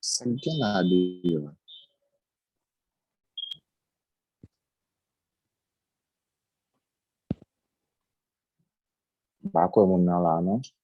Sa k gen la deyò? M pa kwè moun nan la non.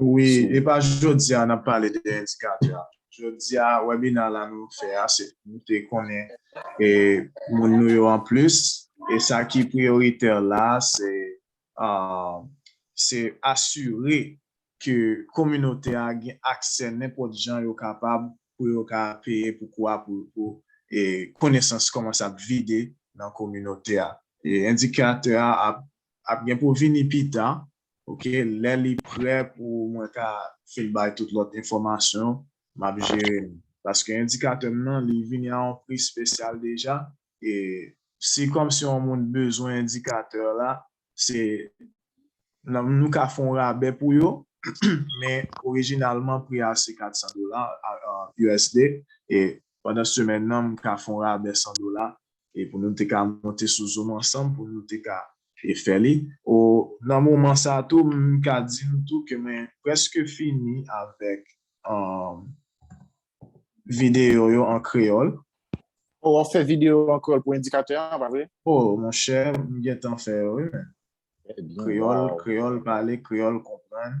Wi, e pa jodi a n ap pale de endikatè. Jodi a, wèbina la nou fè a se pou nou te konnen moun nou yo anplis. E sa ki priyoritè la a se asire ke kominote a gen aksè nenpòt jan yo kapab pou yo ka peye pou kou a pou konesans kòmanse ap vide nan kominote a. Endikatè a ap gen pou vini pita Ok lè li prè pou mwen ka fin bay tout lòt enfòmasyon map jere li paske endikatè m nan li vini a yon pri spesyal deja e si kòmsi yon moun bezwen endikatè la se nou ka fè yon rabè pou yo men orijinalman pri a se 400 dola usd e pandan semèn nan m ka fè yon rabè 100 dola e pou nou te ka monte sou zoom ansanm pou nou te ka fè li o nan moman sa tou m ka di nou tou ke mwen prèske fini avèk videyo yo an kreyòl. O wap fè videyo an kreyòl pou endikatè an pa vre? O monchè m gentan fè yo wi men. Kreyòl, kreyòl pale, kreyòl konprann.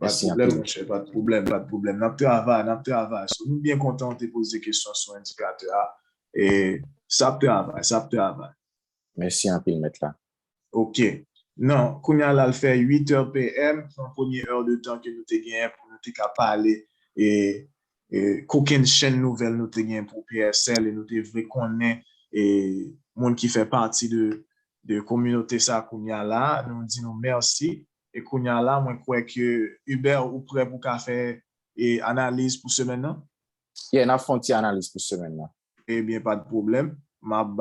Mèsi anpil monchè. Pat pwoblèm, pat pwoblèm. Nap travay, nap travay. So nou byen kontan ou te poze kesyon sou endikatè a. E sa ap travay, sa ap travay. Mèsi anpil mèt la. Ok. Non, kounye a la l fè 8 heures PM, pran premye heure de tan ke nou te genyen pou nou te ka pale e kokennchenn nouvèl nou te genyen pou PSL e nou te vle konnen e moun ki fè pati de kominote sa kounye a la. Nou di nou mèsi E kounya la mwen kwè ke Hubert ou prè pou ka fè analiz pou semèn nan? Yeah nap fè yon ti analiz pou semèn nan. Ebyen pat pwoblèm map ba